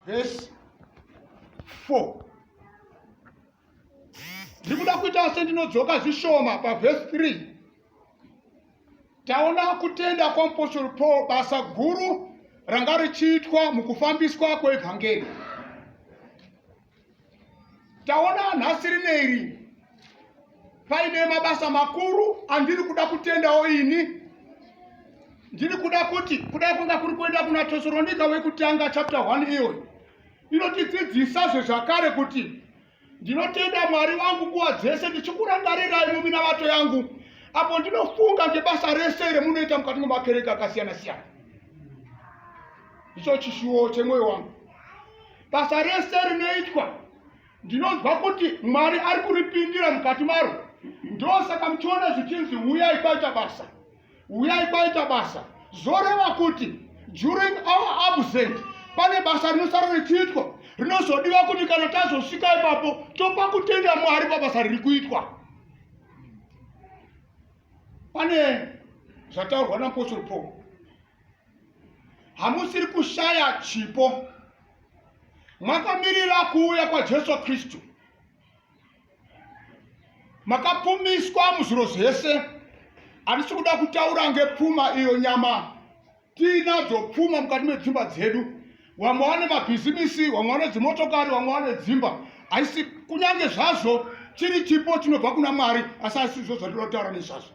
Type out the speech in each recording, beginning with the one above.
vhesi 4 ndiri kuda kuita sendinodzoka zvishoma pavhesi 3 taona kutenda kwamupostori paul basa guru ranga richiitwa mukufambiswa kweevhangeri taona nhasi rine iri paine mabasa makuru andiri kuda kutendawo ini ndiri kuda kuti kudai kwanga kuri kuenda kuna tesoronika wekutanga chapter 1 iyoyi inotidzidzisa zvezvakare kuti ndinotenda mwari wangu nguva dzese ndichikurangarirai muminavato yangu apo ndinofunga ngebasa rese remunoita mukati mwemakereke akasiyana siyana icho chishuwo chemwoyo wangu Basa rese rinoitwa ndinonzwa kuti Mwari ari kuripindira mukati maro. Ndosaka muchiona zvichinzi huyai kwaita basa, huyai kwaita basa. Zvoreva kuti during our absent pane basa rinosara richiitwa rinozodiwa kuti kana tazosvika ipapo topa kutenda Mwari pabasa riri kuitwa. Pane zvataurwa napostle Paul hamusiri kushaya chipo makamirira kuuya kwajesu kristu makapumiswa muzviro zvese handisi kuda kutaura ngepfuma iyo nyama tiinadzo pfuma mukati medzimba dzedu vamwe vane mabhizimisi vamwe vane dzimotokari vamwe vane dzimba haisi kunyange zvazvo chiri chipo chinobva kuna mwari asi haisizvo zvandinotaura nezvazvo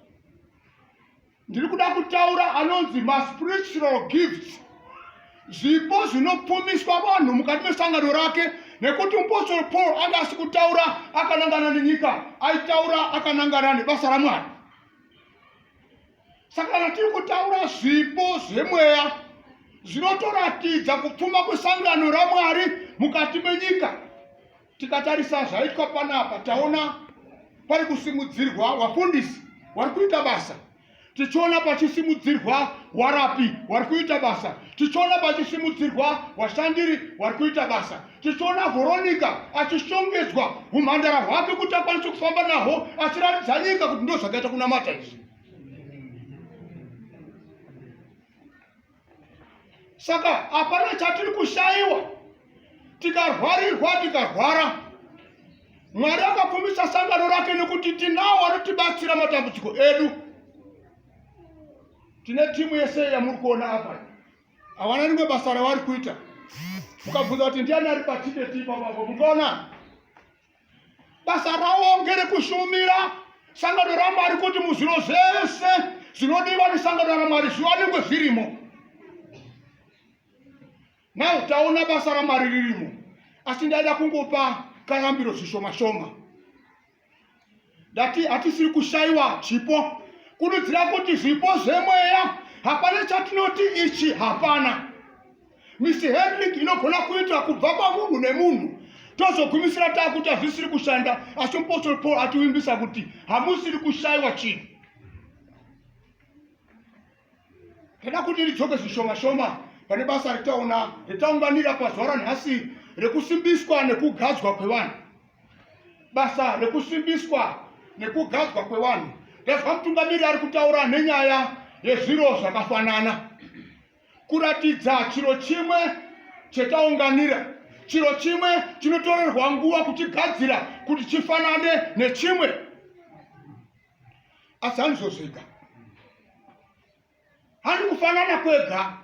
ndiri kuda kutaura anonzi maspiritual gifts zvipo zvinopfumiswa vanhu mukati mesangano rake nekuti mupostoro paul anga asi kutaura akanangana nenyika aitaura akanangana nebasa ramwari saka kana tiri kutaura zvipo zvemweya zvinotoratidza kupfuma kwesangano ramwari mukati menyika Tikatarisa zvaitwa panapa taona pari kusimudzirwa wafundisi wari kuita basa tichiona pachisimudzirwa warapi wari kuita basa tichiona pachisimudzirwa washandiri wari kuita basa tichiona vhoronika achishongedzwa umhandara hwake kuti akwanise kufamba nahwo achiratidza nyika kuti ndo zvakaita kunamata izvi saka hapana chatiri kushaiwa tikarwarirwa tikarwara mwari akapfumisa sangano rake nekuti tinawo vanotibatsira matambudziko edu tine timu yese yamuri kuona apa havana rimwe basa ravari kuita mukabvunza kuti ndiani ari patibeti ipapapo mukaona Basa ravo ngerekushumira sangano raMwari kuti muzviro zvese zvinodiwa nesangano raMwari zviwanikwe zvirimo. Now taona basa raMwari ririmo, asi ndaida kungopa kayambiro zvishoma shoma. ndati hatisiri kushaiwa chipo kurudzira kuti zvipo zvemweya hapana chatinoti ichi hapana misi henrik inogona kuitwa kubva pamunhu nemunhu tozogumisira taakuti hazvisiri kushanda asi mupostori paul ativimbisa kuti hamusiri kushaiwa chinhu Tinoda kuti ridzoke zvishoma shoma pane basa ritaona ritaunganira pazuva ranhasi rekusimbiswa nekugadzwa kwevanhu. Basa rekusimbiswa nekugadzwa kwevanhu ndazva mutungamiri ari kutaura nenyaya yezviro zvakafanana kuratidza chiro chimwe chetaunganira chiro chimwe chinotorerwa nguva kuchigadzira kuti chifanane nechimwe asi hanizozvega handi kufanana kwega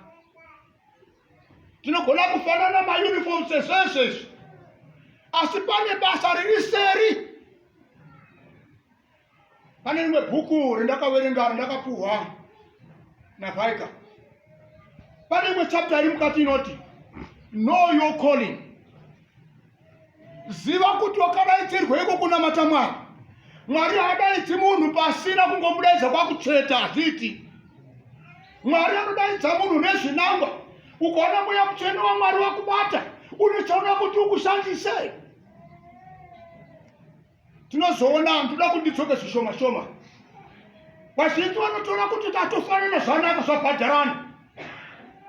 tinogona kufanana mauniform sezvezvezvi asi pane basa riri seri pane rimwe bhuku rendakaverenga rendakapuhwa navaika pane imwe chapta iri mukati inoti know your calling ziva kuti wakadaitirweiko kunamata mwari mwari haadaidzi munhu pasina kungomudaidza kwakutsveta hazviiti mwari anodaidza munhu nezvinangwa ukaona mweya mutsvene wamwari wakubata unochaona kuti ukushandisei tinozoona ndoda kuti ndidzoke zvishoma shoma vazhinji vanotora kuti tatofanana zvanaka zvabhadharana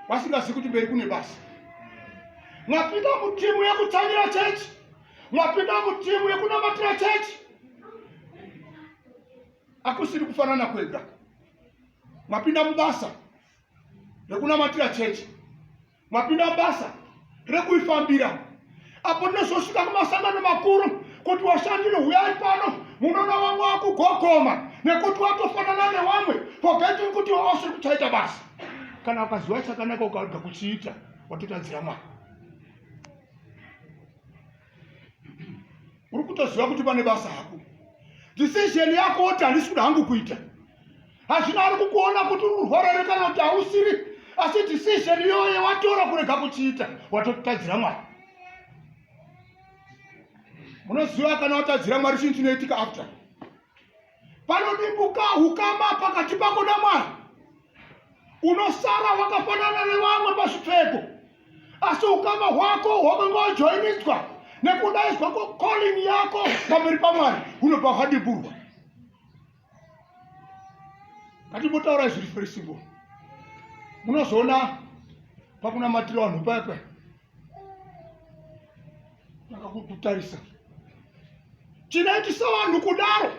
vasingazivi kuti mberi kune basa mwapinda mutimu yekutsamira chechi mwapinda mutimu yekunamatira chechi akusiri kufanana kwega mwapinda mubasa rekunamatira chechi mapinda basa rekuifambira apo ndinozosvika kumasangano makuru kuti washandiri huyai pano munoona wamwe wakugogoma nekuti watofanana newamwe forgetting kuti wausiri kuchaita basa kana ukaziva chakanaka ukarega kuchiita watotadzira mwari uri kutoziva kuti pane basa hako decision yako woti handisi kuda hangu kuita hazvina ari kukuona kuti uri kurwarere kana kuti hausiri asi decision iyoye watora kurega kuchiita watotadzira mwari munoziva kana watadzira mwari chinhu chinoitika after Panodimbuka hukama pakati pako naMwari. Unosara wakafanana nevamwe pazvipfeko, asi hukama hwako hwakange wajoiniswa nekudaizwa kocalling yako pamberi pamwari hunobva hwadimburwa ngatimbotaura zviri firisingo munozoona pakunamatira vanhu payapaya vakakutarisa tinoiti sevanhu kudaro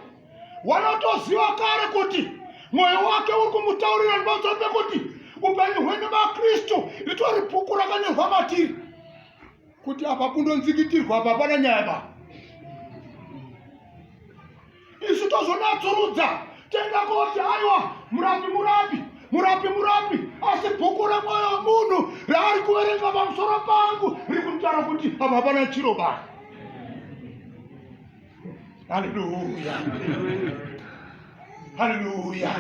wanotoziva kare kuti mwoyo wake uri kumutaurira ndipamusoro pekuti upenyu hwenyu vakristu ritori bhuku rakanyorwa matiri kuti apa kundonzikitirwa apa pana nyaya baa isu tozonatsurudza toenda koti aiwa murapi murapi murapi murapi asi bhuku remwoyo wemunhu raari kuverenga pamusoro pangu riri kutaura kuti apa hapana chiro ba haleluya haleluya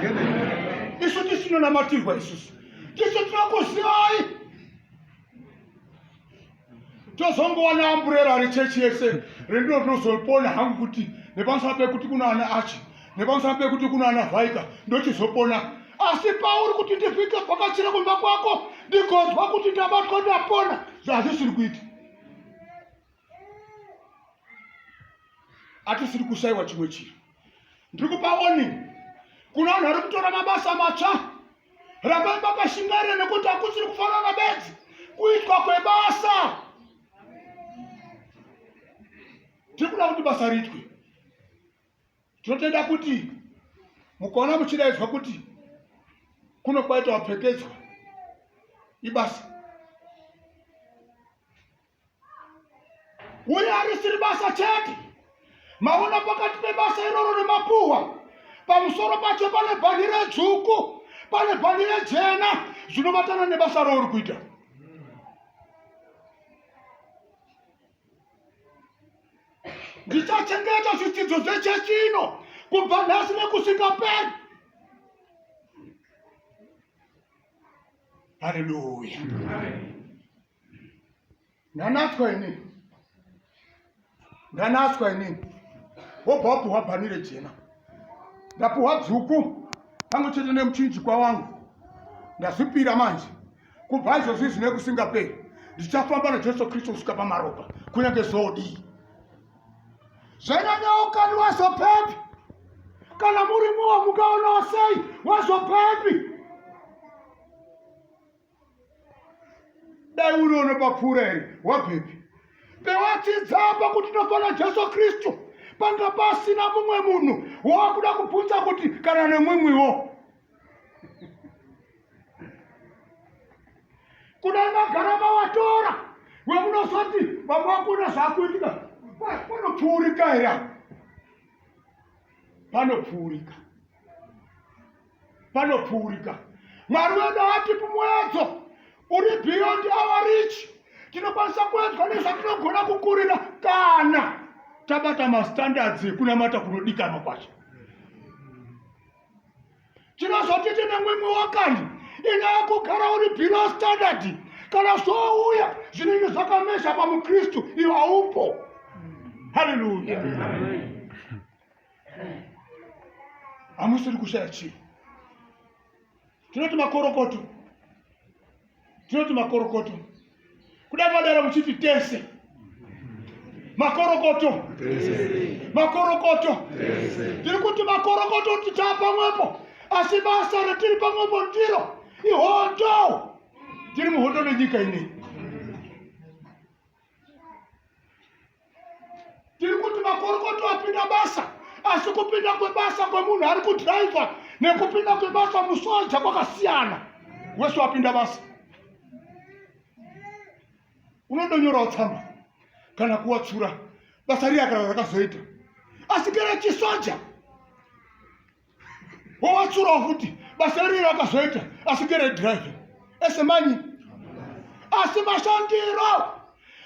isu tisinonamatirwa isusu tisu tinokuzivai tozongowana amburera rechechi yese rendino ndinozopona hangu kuti nepamusana pekuti kuna ana achi nepamusana pekuti kuna ana vhaika ndochizopona asi pauri kuti ndivhike bhakachira kumba kwako ndigonzwa kuti ndabatwa ndapona zvaazvisiri kuita atisiri kushaiwa chimwe chiro ndiri kupa warning kuna vanhu vari kutora mabasa matsva rambai makashingaira nekuti hakusiri kufanana bedzi kuitwa kwebasa tiri kuda kuti basa riitwe tinotenda kuti mukaona muchidaidzwa kuti kuno kwaita wapfekedzwa ibasa uye harisiri basa chete maona pakati pebasa iroro nemapuhwa pamusoro pacho pane bhandi redzvuku pane bhandi rejena zvinobatana nebasa rouri kuita ndichachengeta zvidzidzo zvechechi ino kubva nhasi nekusvika peri haleluya ndanatswa ini ndanatswa ini wobva wapiwa bhani rejena ndapiwa dzuku pamwe chete nemuchinjikwa wangu ndazvipira manje kubva izvozvi zvine kusingaperi ndichafamba najesu kristu kusvika pamaropa kunyange zvodii zvanyanyawo kani wazopepi kana muri muwo mukaonawo sei wazopepi dai uri unopapfuura here wabvepi pewachidzapa kuti tofana jesu kristu panga pasina mumwe munhu wawakuda kubvunza kuti kana nemumwiwo kudai magara mawatora wemunozoti vamwe vakona zvakuitika panopfuurika here panopfuurika panopfuurika mwari wedu atipi muedzo uri beyond our rich tinokwanisa kuedzwa nezvatinogona kukurira kana tabata mastandards ekunamata kunodikanwa kwacho tinozoti tine mwimwe wakani ine akugara uri below standard kana zvouya zvinenge zvakamesha pamukristu ivo haupo haleluya hamusiri kushaya chii tinoti makorokoto tinoti makorokoto kuda madara muchiti tese makorokoto makorokoto tiri kuti makorokoto kuti taa pamwepo asi basa ratiri pamwepo ndiro ihondo tiri muhondo nenyika inei tiri kuti makorokoto apinda basa asi kupinda kwebasa kwemunhu ari kudhiraivha nekupinda kwebasa musoja kwakasiyana wese wapinda basa unondonyorawo tsamba kana kuwatsura basa riya kana rakazoita asi kera chisoja wowatsurawo futi basa riri rakazoita asi ngeredrive ese manyi asi mashandiro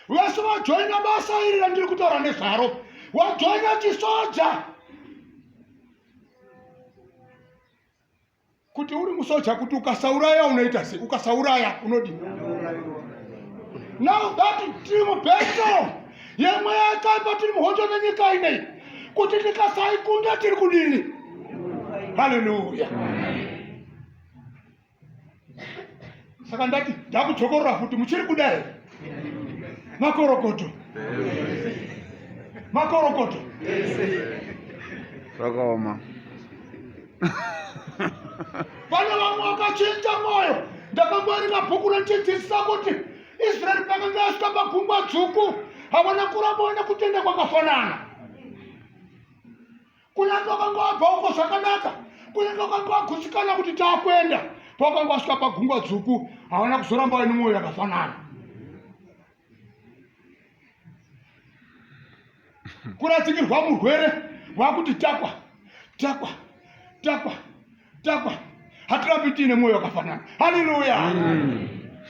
vese vajoina basa iri randiri kutaura nezvaro wajoina chisoja kuti uri musoja kuti ukasauraya unoita sei ukasauraya unodii now that dream battle yemweya yakaipa tiri muhondo nenyika inei kuti tikasaikunda tiri kudini haleluya saka ndati ndakudzokorora futi muchiri kuda here makorokoto makorokoto zvakaoma vana vamwe vakachinja mwoyo ndakangoerima bhuku renchidzidzisa kuti israeri pakanga asvika pagungwa dzvuku havana kuramba vana kutenda kwakafanana kunyange vakanga vabva uko zvakanaka kunyange vakanga vagutsikana kuti taakuenda pakanga vasvika pagungwa dzvuku havana kuzoramba vane mwoyo yakafanana kurasikirwa murwere wakuti takwa takwa takwa takwa hatirambi tiine mwoyo wakafanana haleluya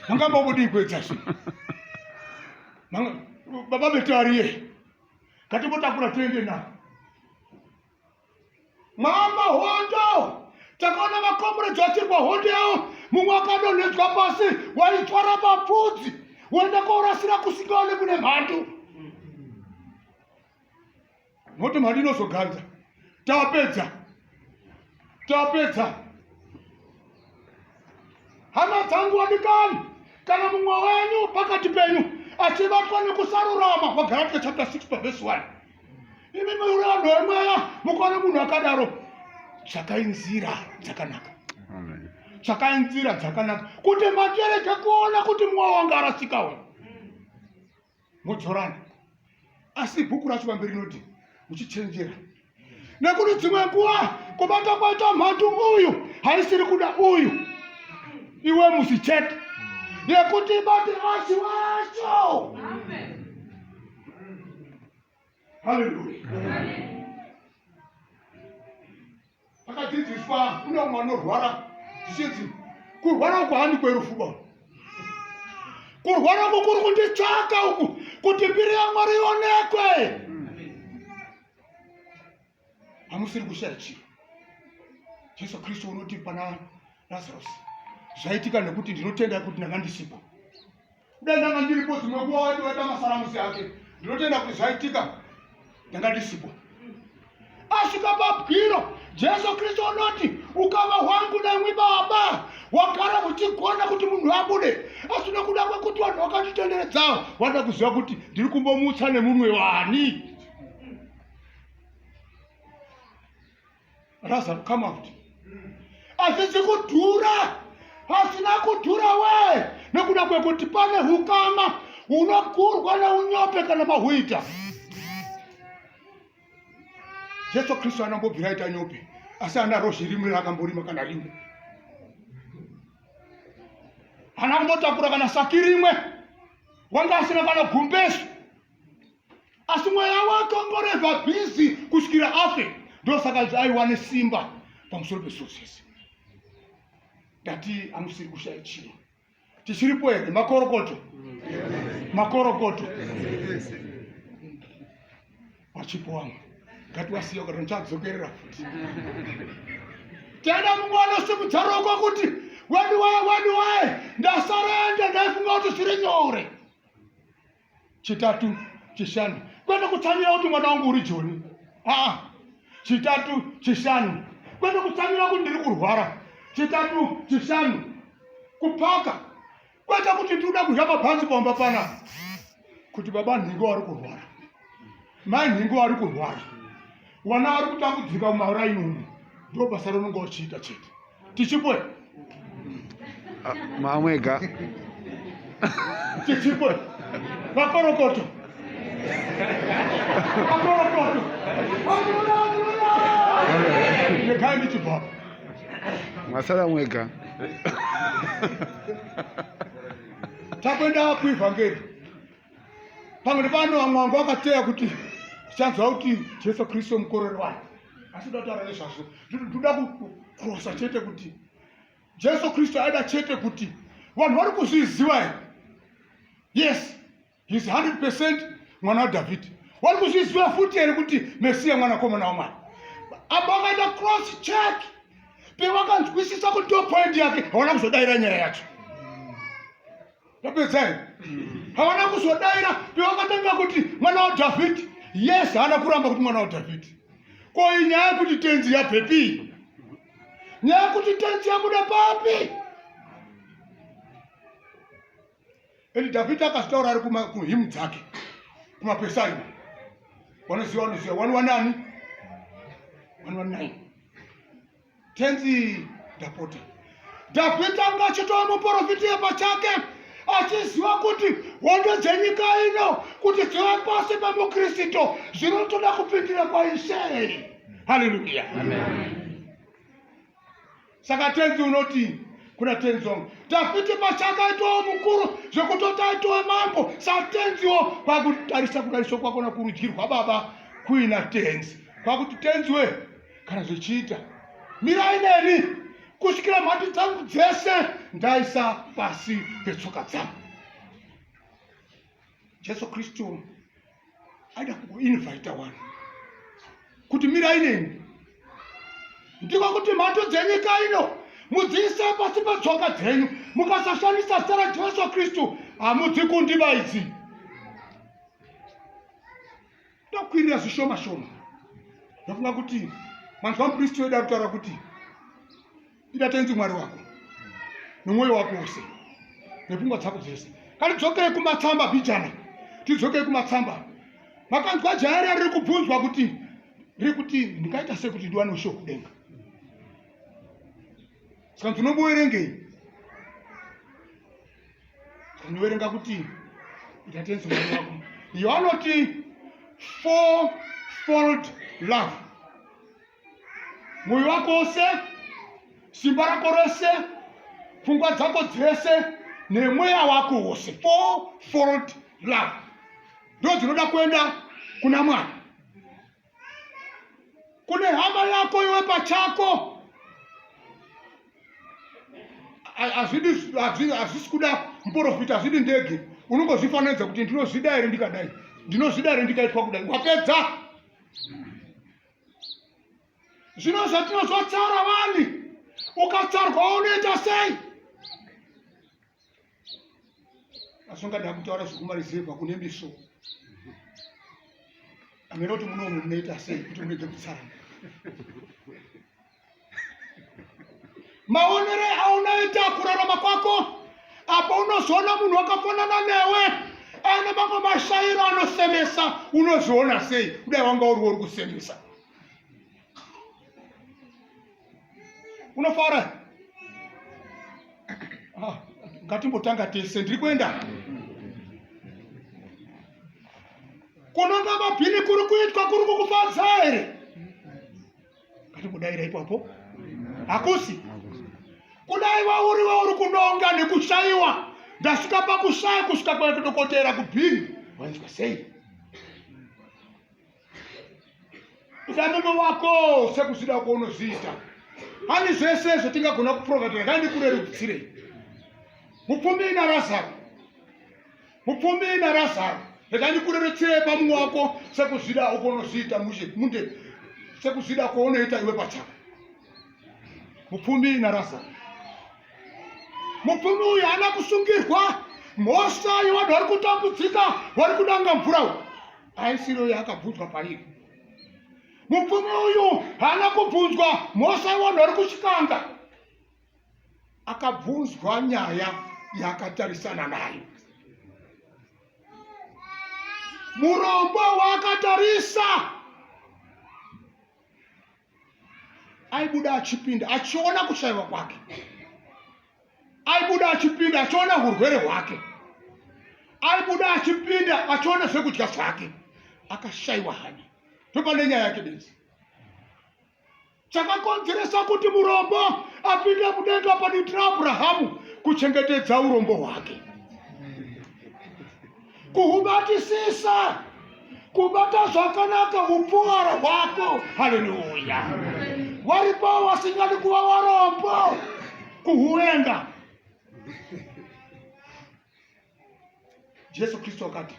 mangambobudii kuedza zvi baba betariye ngatimbotakura tiende navo Mama hondo takaona makomrades vachirwa hondo yavo mumwe akadonhedzwa pasi waitwara mapfudzi woenda kourasira kusingaone kune mhandu moti mhandu inozoganza tapedza tapedza Hama dzangu wadikani, kana mumwe wenyu pakati penyu achibatwa nekusarurama, Wagalatia chapter 6 paverse 1. Imi muri vanhu vemweya, mukaona munhu akadaro, tsvakai nzira dzakanaka, tsvakai nzira dzakanaka kuti makereke kuona kuti mwoyo wanga arasika uyu modzorana asi bhuku racho pamberi rinoti muchichenjera nekuti dzimwe nguva kubata kwaita mhandu uyu haisiri kuda uyu iwe musi chete yekuti ibate vasi wacho Amen. Haleluya. Akadzidziswa kune umwe anorwara zvichinzi kurwara uku handi kwerufu ba kurwara uku kuri kunditsvaka uku kuti mbiri yamwari ionekwe hamusiri kushaya chiro jesu kristu unoti pana lazarusi zvaitika nekuti ndinotenda kuti ndanga ndisipo kudai ndanga ndiripo dzimwe nguva waiti waita masaramusi ake ndinotenda kuti zvaitika ndanga ndisipo asvika pabwiro jesu kristu unoti ukama hwangu nemwi baba wagara uchigona kuti munhu abude asi nokuda kwekuti vanhu vakanditenderedzawo vanoda kuziva kuti ndiri kumbomutsa nemunwe wani Lazaro come out hazvizi kudhura hazvina kudhura wee nekuda kwekuti pane hukama hunogurwa neunyope kana mahuita jesu kristu anambobvira aita nyope asi ana rozhi rimwe raakamborima kana rimwe ana kumbotakura kana saki rimwe wanga asina kana gumbesu asi mweya wake ungoreva bhizi kusvikira afe ndosaka aiwane simba pamusoro pezvosese ndati amusiri kushaya chiro tichiripo here makorokoto makorokoto vachipo wamwe ngatiwasiya kuti ndichadzokerera futi tenda mumwe anosimudza roko kuti wani waye wani waye ndasarenda ndaifunga kuti zviri nyore chitatu chishanu kwete kutsamira kuti mwana wangu uri joni aa chitatu chishanu kwete kutsamira kuti ndiri kurwara chitatu chishanu kupaka kwete kuti tiri kuda kudya mabhanzi pamba pana kuti baba nhingo wari kurwara mai nhingo wari kurwara Vana vari kutambudzika mumaraini umu ndo basa raunenge uchiita chete tichipwe ah, mamwega tichipwe vakorokoto vakorokoto nekai ndichibva masara mwega takwenda kuivhangeri pamwe nepano vamwe vangu vakateya kuti tichanzwa kuti jesu kristu mukorori wani asi toda kutaura nezvazvo toda kukrosa chete kuti jesu kristu aida chete kuti vanhu vari kuzviziva here yes his 100 percent mwana wadhavhidhi wari kuzviziva futi here kuti mesiya mwana komana wamwari apa vakaita cross check pevakanzwisisa kuti ndopoindi yake hawana kuzodaira nyaya yacho tapedza here havana kuzodaira pevakatanga kuti mwana wadhavhidhi yes haana kuramba kuti mwana wadhavhidhi ko inyaya yekuti tenzi yabhepii nyaya yekuti tenzi yabuda papi and dhavhidhi akazitaura ari kuhimu dzake kumapesari wanoziva wanoziva wani wanani wani wanani Tenzi ndapota. Dhavhidhi anga achitova muporofiti pachake achiziva kuti hondo dzenyika ino kuti dzive pasi pemukristu zvinotoda kupindira kwaishe haleluya saka tenzi unoti kuna tenzi wangu dhavhidhi pachake aitowo mukuru zvekutoti aitowe mambo satenziwo kwakutarisa kudariswa kwakona kurudyirwa baba kuina tenzi kwakuti tenzi wee kana zvichiita mirai neni kusvikira mhandi dzangu dzese ndaisa pasi petsoka dzangu jesu kristu aida kuinvaita wani kuti mirai neni ndiko kuti mhato dzenyika ino mudziise pasi petsoka dzenyu mukasashandisa zita rajesu kristu hamudzi kundibaidzi ndokwirira zvishoma shoma ndofunga kuti manzwa mupristi wedu ari kutaura kuti ida tenzi mwari wako nomwoyo wako wose nepfungwa dzako dzese kani dzokei kumatsamba bijana tidzokei kumatsamba makanzwa jaya riya riri kubvunzwa kuti riri kuti ndingaita sei kuti ndiwane usho kudenga saka ndinomuverengei unoverenga kuti ita tenzi mwana wako iyo anoti four fold love mwoyo wako wose simba rako rose pfungwa dzako dzese nemweya wako wose four fold love ndo dzinoda kuenda kuna mwana kune hama yako iwe pachako hazvisi kuda muporofita hazvidi ndege unongozvifananidza kuti ndinozvida here ndikadai ndinozvida here ndikaitwa kudai wapedza zvino zvatinozotsara vani ukatsarwa unoita sei asi ungada kutaura zvekumarizevha kune miso amene kuti munomu munoita sei kuti munoita kutsarana maonere aunoita kurarama kwako apo unozoona munhu wakafanana newe aine mamwe mashairo anosemesa unozoona sei kudai wanga uri wori kusemesa unofara ah, ngatimbotanga tese ndiri kuenda kunonga mabhini kuri kuitwa kuri kukufadza here ngatimudaira ipapo hakusi kudai wauri wauri kunonga nekushaiwa ndasvika pakushaya kusvika kwadokotera kubhini wainzwa sei ida mume wako sekuzvida uko unozviita pane zvese zvatingagona kuprovatira dai ndikurerukutsirei mupfumi ina razaro mupfumi ina razaro rekai ndikurerutsirei pamumwe wako sekuzvida uko unozviita mushe munde sekuzvida uko unoita iwe pachako mupfumi ina razaro mupfumi uyu haana kusungirwa mhosva yevanhu vari kutambudzika vari kudanga mvura uyu aisiro yakabvunzwa pairi mupfumi uyu haana kubvunzwa mhosva yevanhu vari kuchikanga akabvunzwa nyaya yaakatarisana nayo murombo waakatarisa aibuda achipinda achiona kushaiwa kwake aibuda achipinda achiona hurwere hwake aibuda achipinda achiona zvekudya zvake akashaiwa hanya topane nyaya yake benzi chakakonzeresa kuti murombo apinde mudenga panoitira abrahamu kuchengetedza urombo hwake kuhubatisisa kubata zvakanaka upfuwaro hwako haleluya waripo wasingadi kuva warombo kuhuenda jesu kristu akati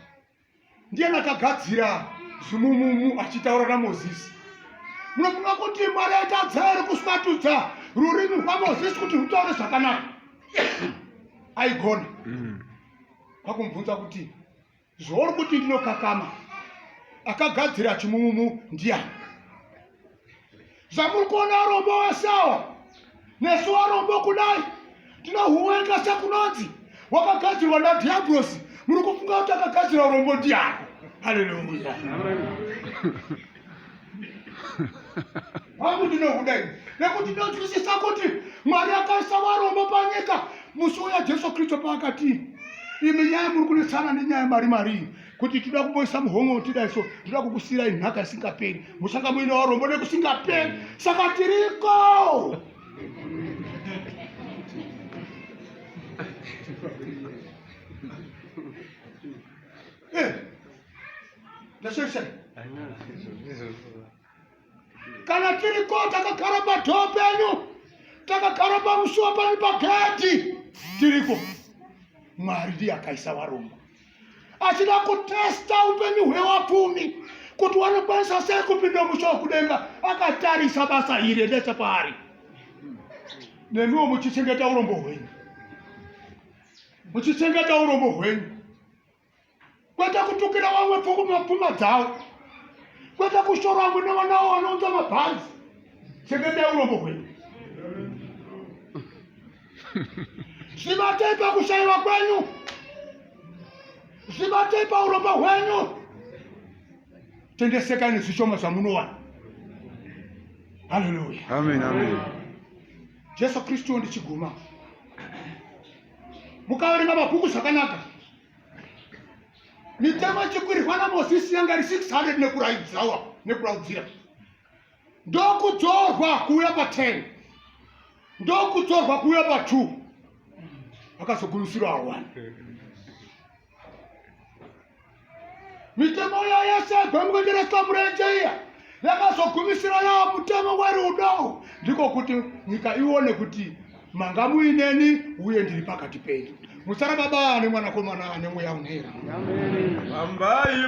ndiye nakagadzira zimumumu achitaura namozisi munofunga kuti mwari aitadza iri kuswatudza rurimi rwamozisi kuti rutaure zvakanaka aigona mm. kwakumubvunza kuti zvauri kuti ndinokakama akagadzira chimumumu ndiyani zvamuri kuona arombo wesawa nesu arombo kudai tinohuwenga sekunonzi wakagadzirwa nadhiabhurosi muri kufunga kuti akagadzira urombo ndiyani haleluya hangu ndinokuda ini nekuti ndinonzwisisa kuti mwari akaisa varombo panyika musi uya jesu kristu paakati imi nyaya muri kunetsana nenyaya mari marii kuti tinoda kumboisa muhomwe wotida so tinoda kukusirai nhaka isingaperi muchanga muine varombo nekusingaperi saka tiriko Eh, ndashesha kana tiri ko takagara padhoo penyu takagara pamusuwa panyu pagedhi tiriko mwari ndiye akaisa varombo achida kutesta upenyu hwewapfumi kuti wanokwanisa sei kupinda musha wekudenga akatarisa basa iri endesa paari nemiwo muchichengeta urombo hwenyu muchichengeta urombo hwenyu kwete kutukira vamwe pfuma dzavo kwete kushora vamwe nevanawo vanounza mabhanzi chengeta urombo hwenyu zvibatei pakushaiwa kwenyu zvibatei paurombo hwenyu tendesekani zvishoma zvamunowana haleluya jesu kristu ndichiguma mukaverenga mabhuku zvakanaka mitemo chikurirwa namosisi yanga iri 600 nekuraidzirawa nekuraudzira ndokudzorwa kuuya pa 10 ndokudzorwa kuuya pa 2 akazogumisirawo wani mitemo iya yese yagwamukwendereswa murenje iya yakazogumisira yava mutemo werudo ndiko kuti nyika ione kuti manga muineni uye ndiri pakati penyu musara baba ane mwanakomana ane mweya unera